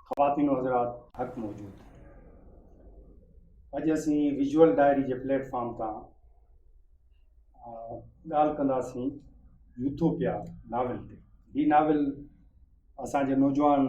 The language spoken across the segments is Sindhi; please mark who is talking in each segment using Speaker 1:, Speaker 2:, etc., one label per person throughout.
Speaker 1: خواتين و حضرات حق موجود اڄ اسين ويجول ڊائري جي پليٽ فارم تان ڳالهه ڪنداسين يوٿوپيا ناول تي هي ناول اسان جي نوجوان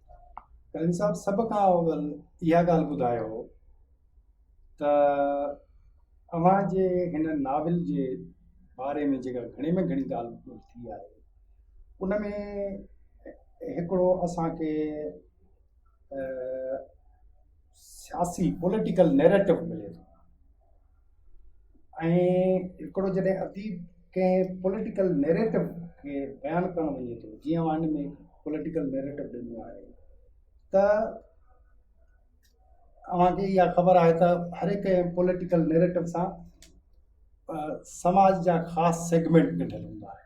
Speaker 1: ڪريم صاحب سڀ کان اول اها ڳالهه ٻڌايو ته اوهان جي هن ناول جي باري ۾ جيڪا گهڻي ۾ گهڻي ڳالهه ٻولهه ٿي آهي ان ۾ هڪڙو اسانکي سياسي پوليٽيڪل نيريٽو ملي ٿو ۽ هڪڙو جڏهن اديب ڪنهن پوليٽيڪل نيريٽو کي بيان ڪرڻ وڃي ٿو جيئن هن ۾ پوليٽيڪل نيريٽو ڏنو آهي ته اوهان کي اها خبر آهي ته هر هڪ پوليٽيڪل نيريٽو سان سماج جا خاص سيگمينٽ ڏنل هوندا آهن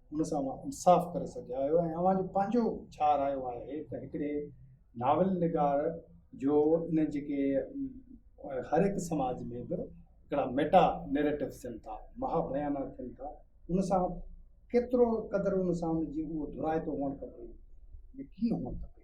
Speaker 1: ان سان اوهان انصاف ڪري سگهيا آهيو ۽ اوهان جو پنهنجو ڇا رايو آهي ته هڪڙي ناول نگار جو ان جيڪي هر هڪ سماج ۾ به هڪڙا ميٽا نيريٽو ٿين ٿا مها بيانا ٿين ٿا ان سان ڪيترو قدر ان سان ان جي اهو ڌرائتو هئڻ کپي ڪيئن هئڻ کپي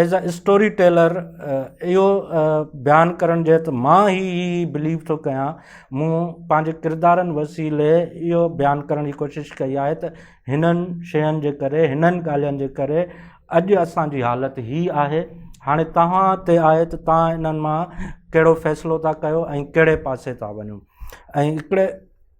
Speaker 2: ايز اي اسٽوري ٽيلر اهو بيان ڪرڻ جي ته مان هي هي بليو ٿو ڪيان مون پنهنجي ڪردارن وسيلي اهو بيان ڪرڻ جي ڪوشش ڪئي آهي ته هنن شين جي ڪري هنن ڳالهين جي ڪري اڄ اسانجي حالت هي آهي هاڻي توهان تي آهي ته توهان هنن مان ڪهڙو فيصلو ٿا ڪيو ۽ ڪهڙي پاسي ٿا وڃو ۽ هڪڙي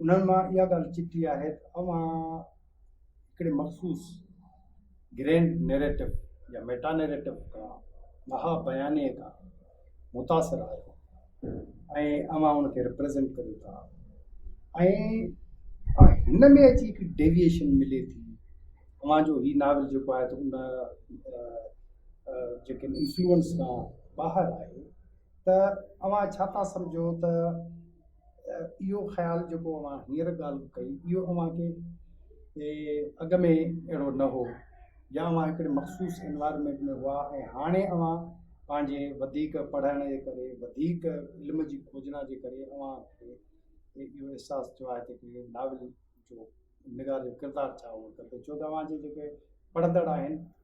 Speaker 1: انهن مان اها ڳالهه چٽي آهي ته اوهان هڪڙي مخصوص گرينڊ نيريٽو يا ميٽا نيريٽو کان، مها بيانيي کان متاثر آهيو ۽ اوهان ان کي ريپريزينٽ ڪريو ٿا ۽ هن ۾ اچي هڪ ڊيويئيشن ملي ٿي. اوهان جو هي ناول جيڪو آهي ته ان جيڪي انفلوئنس کان ٻاهر آهي ته اوهان ڇا ٿا سمجهو ته اهو خيال جيڪو اوهان هينئر ڳالهه ڪئي اهو اوهان کي اڳ ۾ اهڙو نه هو يا اوهان هڪڙي مخصوص انوائرمينٽ ۾ هئا ۽ هاڻي اوهان پنهنجي وڌيڪ پڙهڻ جي ڪري وڌيڪ علم جي کوجنا جي ڪري اوهان کي اهو احساس ٿيو آهي ته هڪڙي ناول جو نگار جو ڪردار ڇا هئڻ کپي ڇو ته اوهان جي جيڪي پڙهندڙ آهن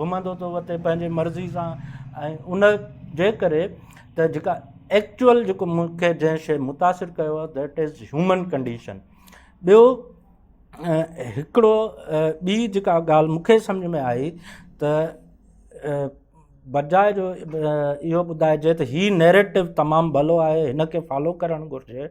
Speaker 2: گهمندو ٿو وتي پنهنجي مرضي سان ۽ ان جي ڪري ته جيڪا ايڪچوئل جيڪو مونکي جنهن شيء متاثر ڪيو آهي ڌيٽ از هيومن ڪنڊيشن ٻيو هڪڙو ٻي جيڪا ڳالهه مونکي سمجهه ۾ آئي ته بجاء جو اهو ٻڌائجي ته هي نيريٽو تمام ڀلو آهي هن کي فالو ڪرڻ گهرجي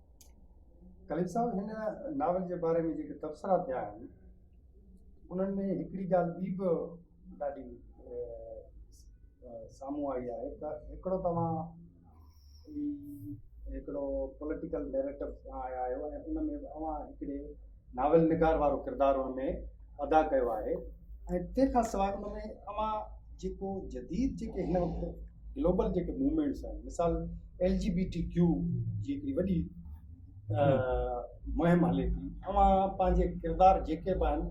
Speaker 1: کليل صاحب هن ناول جي باري ۾ جيڪي تبصرا ٿيا آهن انهن ۾ هڪڙي ڳالهه ٻي به ڏاڍي سامهون آئي آهي ته هڪڙو توهان هڪڙو پوليٽيڪل نيريٽو کان آيا آهيو ۽ ان ۾ اوهان هڪڙي ناول نگار وارو ڪردار ان ۾ ادا ڪيو آهي ۽ تنهن کان سواء ان ۾ اوهان جيڪو جديد جيڪي هن وقت گلوبل جيڪي موومينٽس آهن مثال ايل جي بي ٽي ڪيو جي هڪڙي وڏي مهم هلي ٿي اوهان پنهنجي ڪردار جيڪي به آهن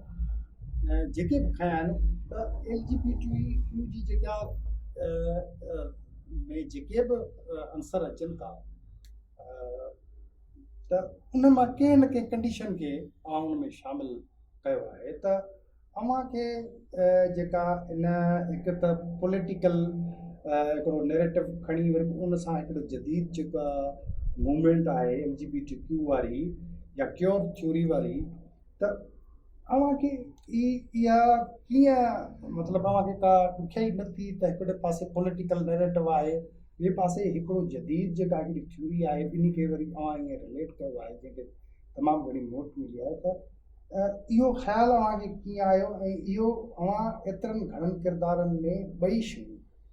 Speaker 1: جيڪي به کايا آهن ته ايل جي بي ٽي ڪيو جي جيڪا ۾ جيڪي به عنصر اچن ٿا ته انهن مان ڪنهن نه ڪنهن ڪنڊيشن کي اوهان ان ۾ شامل ڪيو آهي ته اوهان کي جيڪا ان هڪ ته پوليٽيڪل هڪڙو نيريٽو کڻي وري به ان سان هڪڙو جديد جيڪا موومينٽ آهي ايل جي بي ٽي ڪيو واري يا ڪيو ٿيوري واري ته اوهان کي اها ڪيئن مطلب اوهان کي ڪا ڏکيائي نه ٿي ته هڪڙي پاسي پوليٽيڪل نيريٽو آهي ٻئي پاسي هڪڙو جديد جيڪا هڪڙي ٿيوري آهي ٻنهي کي وري اوهان ائين رليٽ ڪيو آهي جنهن کي تمام گهڻي موٽ ملي آهي ته اهو خيال اوهان کي ڪيئن آيو ۽ اهو اوهان ايترن گهڻن ڪردارن ۾ ٻئي شيون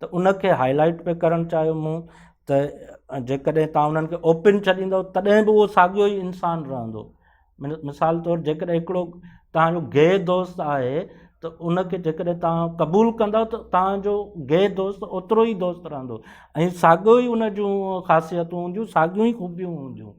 Speaker 2: ته ان کي هائي لائيٽ به ڪرڻ چاهيو مون ته جيڪڏهن تون انهن کي اوپن ڇڏيندو تڏهن به اهو ساڳيو ئي انسان رهندو مثال طور جيڪڏهن هڪڙو تهنجو گي دوست آهي ته ان کي جيڪڏهن تهان قبول ڪندو ته تهنجو گي دوست اوترو ئي دوست رهندو ۽ ساڳيو ئي ان جون خاصيتون هونديون ساڳيون ئي خوبيون هونديون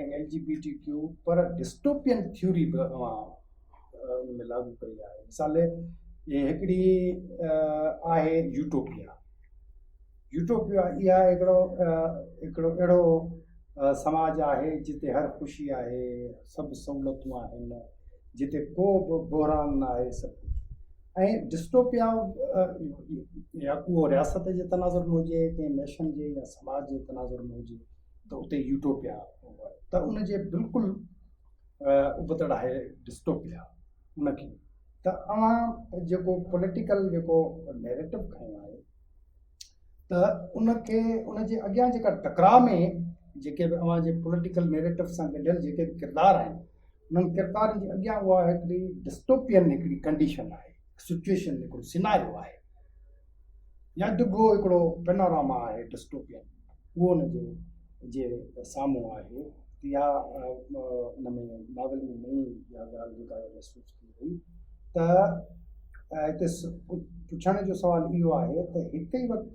Speaker 1: ۽ ايل جي بي ٽي ڪيو پر ڊسٽوپين ٿيوري به اوهان ان ۾ لاڳو ڪئي آهي مثال هي هڪڙي آهي يوٽوپيا يوٽوپيا اها هڪڙو هڪڙو اهڙو سماج آهي جتي هر خوشي آهي سڀ سهولتون آهن جتي ڪو به بحران نه آهي سڀ ڪجهه ۽ ڊسٽوپيا يا ڪو رياست جي تناظر ۾ هجي ڪنهن نيشن جي يا سماج جي تناظر ۾ هجي ته اتي يوٽوپيا ته ان جي بلڪل ابتڙ آهي ڊسٽوپيا ان کي ته اوهان جيڪو پوليٽيڪل جيڪو نيريٽو کڻيو آهي ته ان کي ان جي اڳيان جيڪا ٽڪراء ۾ جيڪي به اوهان جي پوليٽيڪل نيريٽو سان گڏيل جيڪي به ڪردار آهن انهن ڪردارن جي اڳيان اها هڪڙي ڊسٽوپين هڪڙي ڪنڊيشن آهي سچويشن هڪڙو سيناريو آهي يا ڊگهو هڪڙو پينوراما آهي ڊسٽوپين اهو ان جي جي سامهون آهي يا ان ۾ ناول ۾ نئين اها ڳالهه جيڪا محسوس ٿي وئي ته هتي پڇڻ جو سوال اهو آهي ته هڪ ئي وقت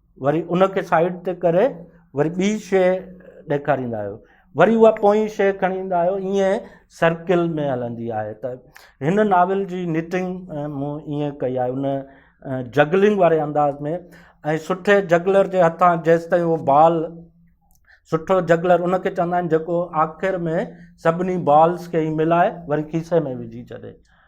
Speaker 2: وري ان کي سائيڊ تي ڪري وري ٻي شيء ڏيکاريندا آهيو وري اها پوئين شيء کڻي ايندا آهيو ائين سرڪل ۾ هلندي آهي ته هن ناول جي نٽنگ مون ائين ڪئي آهي ان جگلنگ واري انداز ۾ ۽ سٺي جگلر جي هٿان جيسي تائين اهو بال سٺو جگلر ان کي چوندا آهن جيڪو آخر ۾ سڀني بالز کي ملائي وري کيسي ۾ وجهي ڇڏي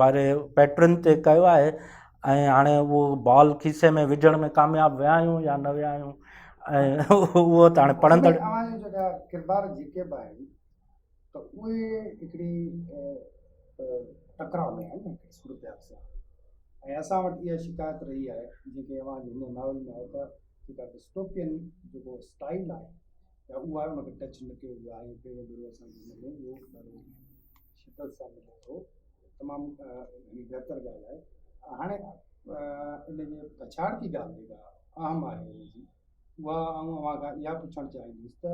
Speaker 2: واري پيٽرن تي ڪيو آهي ۽ هاڻي اهو بال کيسي ۾ وجهڻ ۾ ڪامياب ويا آهيون يا نه ويا آهيون اهو ته هاڻي پڙهندڙ ڪردار
Speaker 1: جيڪي به آهن ته اهي هڪڙي ٽڪراء ۾ آهن نه صورت حال سان ۽ اسان وٽ اها شڪايت رهي آهي جيڪي اوهان جي هن ناول ۾ آهي ته جيڪا ڊسٽوپين جيڪو اسٽائل آهي يا اهو آهي ان کي ٽچ نه ڪيو ويو آهي ۽ پهريون ڀيرو اسان جي هن ۾ اهو شدت سان ملي ٿو تمام گهڻي بهتر ڳالهه آهي هاڻي ان جي پڇاڙ جي ڳالهه جيڪا اهم آهي ان جي اها آئون اوهان کان اها پڇڻ چاهيندس ته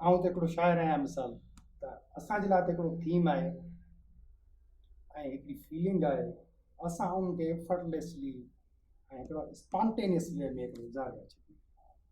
Speaker 1: آئون ته هڪڙو شاعر آهيان مثال ته اسان جي لاء ته هڪڙو ٿيم آهي ۽ هڪڙي فيلنگ آهي اسان ان کي افرٽليسلي ۽ هڪڙو اسپانٽينيس وي ۾ هڪڙو اظهار ڪري ڇڏيون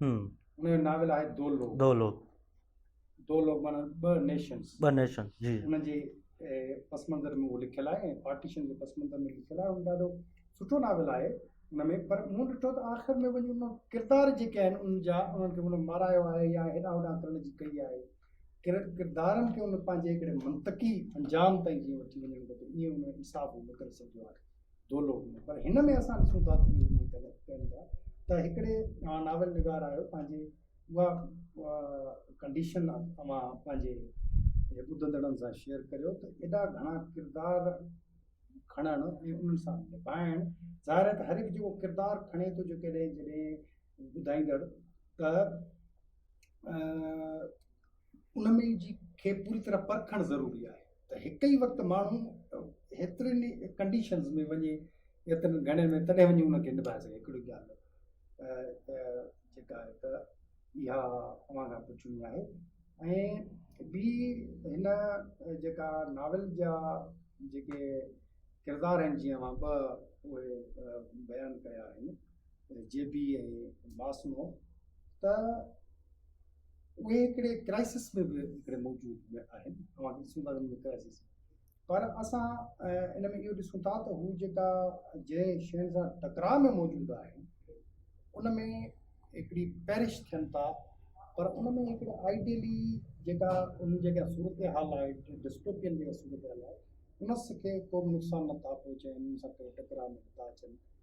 Speaker 1: ان جو ناول آهي دو لوگ دو لوگ دو لوگ معنی ٻه نيشنز ٻه نيشن جي ان جي پس منظر ۾ اهو لکيل آهي ۽ پارٽيشن جي پس منظر ۾ لکيل آهي ان ڏاڍو سٺو ناول آهي ان ۾ پر مون ڏٺو ته آخر ۾ وڃي ان ڪردار جيڪي آهن ان جا انهن کي ان مارايو آهي يا هيڏا هوڏا ڪرڻ جي ڪئي آهي ڪردارن کي ان پنهنجي هڪڙي منطقي انجام تائين جيئن وٺي وڃڻ گهرجي ائين ان انصاف نڪري سگهيو آهي دولو ۾ پر هن ۾ اسان ڏسون ٿا ته اهي جيڪي غلط ڪن ٿا ته هڪڙي اوهان ناول نگار آهيو پنهنجي اها ڪنڊيشن اوهان پنهنجي ٻڌندڙن سان شيئر ڪريو ته ايڏا گهڻا ڪردار کڻڻ ۽ انهن سان نڀائڻ ظاهر آهي ته هر هڪ جيڪو ڪردار کڻي ٿو جيڪڏهن جڏهن ٻڌائيندڙ ته ان ۾ جي کي پوري طرح پرکڻ ضروري آهي ته هڪ ئي وقت ماڻهو هيترين ڪنڊيشنز ۾ وڃي هيترين گهڻين ۾ تڏهن وڃي ان کي نڀائي سگهي هڪڙي ڳالهه جيڪا آهي ته اها اوهان کان پڇڻي آهي ۽ ٻي هن جيڪا ناول جا جيڪي ڪردار آهن جيئن اوهان ٻه اهي بيان ڪيا آهن جي بي ۽ ماسمو ته اهي هڪڙي ڪرائسس ۾ به هڪڙي موجود ۾ آهن اوهان کي ڏسون ٿا ته ڪرائسس پر اسان ان ۾ اهو ڏسون ٿا ته هو جيڪا جنهن شين سان ٽڪراء ۾ موجود آهن ان ۾ هڪڙي پيرش ٿين ٿا پر ان ۾ هڪڙي آئيڊيلي جيڪا ان جيڪا صورتحال آهي ڊسٽوپين جيڪا صورتحال آهي ان کي ڪو به نقصان نٿا پهچائين ان سان ڪو ٽڪراء ۾ نٿا اچن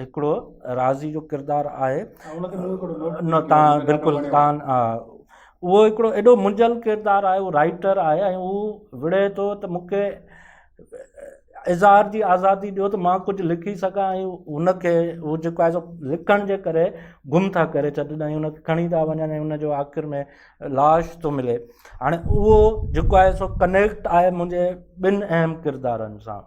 Speaker 2: هڪڙو راضي جو ڪردار آهي نه تان بلڪل تان اهو هڪڙو ايڏو منجهيل ڪردار آهي اهو رائيٽر آهي ۽ اهو وڙهي ٿو ته مونکي اظهار جي آزادي ڏيو ته مان ڪجهه لکي سگهان ۽ هن کي اهو جيڪو آهي سو لکڻ جي ڪري گم ٿا ڪري ڇڏن ۽ هن کي کڻي ٿا وڃن ۽ هن جو آخر ۾ لاش ٿو ملي هاڻي اهو جيڪو آهي سو ڪنيڪٽ آهي منهنجي ٻن اهم ڪردارن سان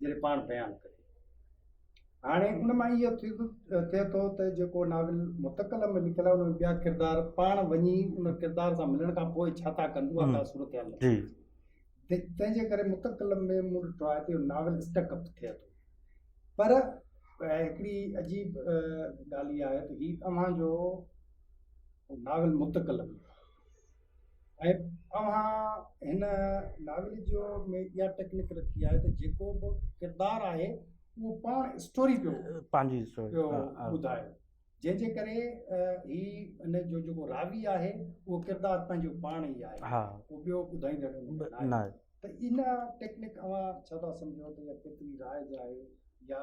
Speaker 1: جڏهن پاڻ بيان ڪري. هاڻي ان مان اهو ٿئي ٿو ته جيڪو ناول متڪلم ۾ لکيل آهي ان ۾ ٻيا ڪردار پاڻ وڃي ان ڪردار سان ملڻ کان پوء ڇا ٿا ڪن اها ڪا صورتحال نٿي
Speaker 2: اچي تنهن
Speaker 1: جي ڪري متڪلم ۾ مون ڏٺو آهي ته ناول اسٽڪ اپ ٿئي ٿو پر هڪڙي عجيب ڳالهه اها آهي ته هي اوهان جو ناول متڪلم ۽ اوهان هن ناول جو ۾ اها ٽيڪنڪ رکي آهي ته جيڪو به ڪردار آهي اهو پاڻ اسٽوري پيو پنهنجي پيو
Speaker 2: ٻڌائي
Speaker 1: جنهن جي ڪري هي ان جو جيڪو راوي آهي اهو ڪردار پنهنجو پاڻ ئي آهي ها اهو ٻيو ٻڌائيندڙ نه ته
Speaker 2: ان
Speaker 1: ٽيڪنڪ اوهان ڇا ٿا سمجهو ته پرٿوي راء جا آهي يا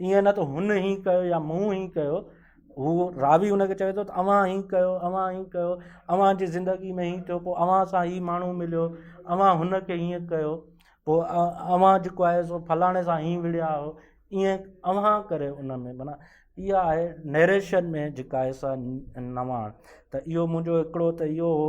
Speaker 2: ائين نه ته هن ئي ڪيو يا مون ئي ڪيو، هو راوي ان کي چوي ٿو ته اوهان ئي ڪيو، اوهان ئي ڪيو، اوهان جي زندگي ۾ هي ٿيو، پوء اوهان سان هي ماڻهو مليو، اوهان هن کي هيئن ڪيو، پوء اوهان جيڪو آهي سو فلاڻي سان هيئن وڙهيا آهيو، ائين اوهان ڪري ان ۾ معنيٰ اها آهي نئريشن ۾ جيڪا آهي سا نواڻ ته اهو منهنجو هڪڙو ته اهو هو.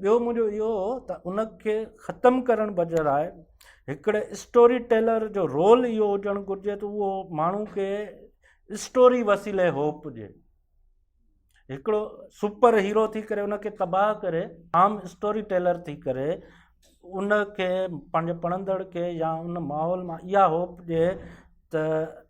Speaker 2: ٻيو منهنجو اهو هو ته ان کي ختم ڪرڻ بجراء هڪڙي اسٽوري ٽيلر جو رول اهو هجڻ گهرجي ته اهو ماڻهو کي اسٽوري وسيلي هوپ ڏئي هڪڙو سپر هيرو ٿي ڪري ان کي تباهه ڪري عام اسٽوري ٽيلر ٿي ڪري ان کي پنهنجي پڙهندڙ کي يا ان ماحول مان اها هوپ ڏئي ته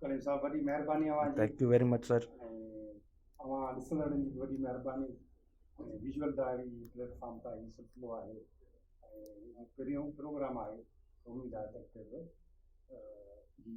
Speaker 2: ڪليم
Speaker 1: صاحب وڏي مهرباني اوهان جي thank you very much sir
Speaker 2: اوهان
Speaker 1: ڏسندڙن جي وڏي مهرباني ويجوئل ڊائري پليٽ فارم تان هي سلسلو آهي ۽ پهريون پروگرام آهي اميد آهي ته اڳتي به جي